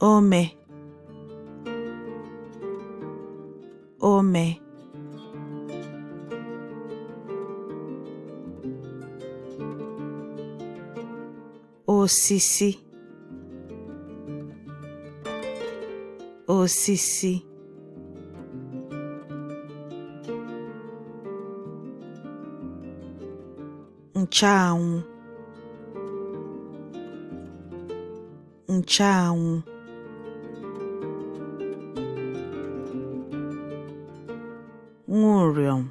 ome ome osisi osisi ncheanwụ ncheanwụ. Nwụrịọm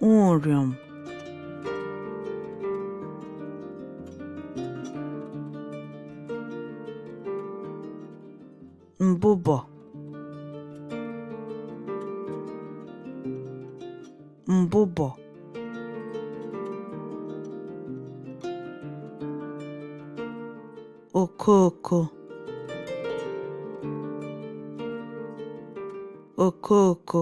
Nwụrịọm mbụbọ mbụbọ okooko okooko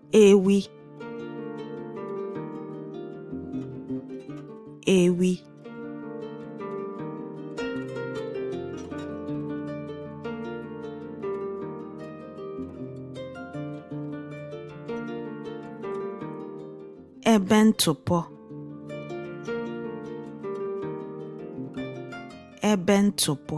ewi ewi ebe ntụpọ ebe ntụpọ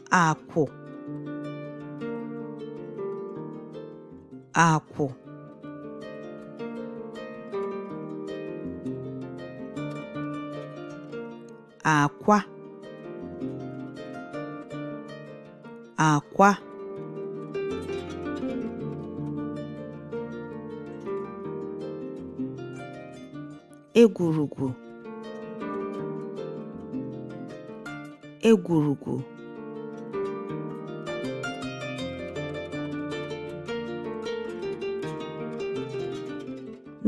akwụ akwụ akwa akwa egwurugwu egwurugwu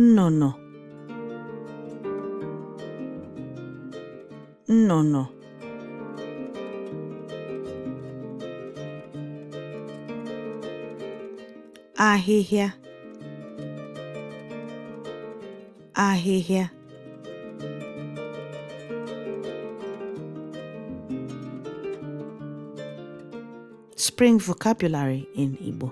nnụnụ nnụnụ ahịhịa ahịhịa Spring Vocabulary in Igbo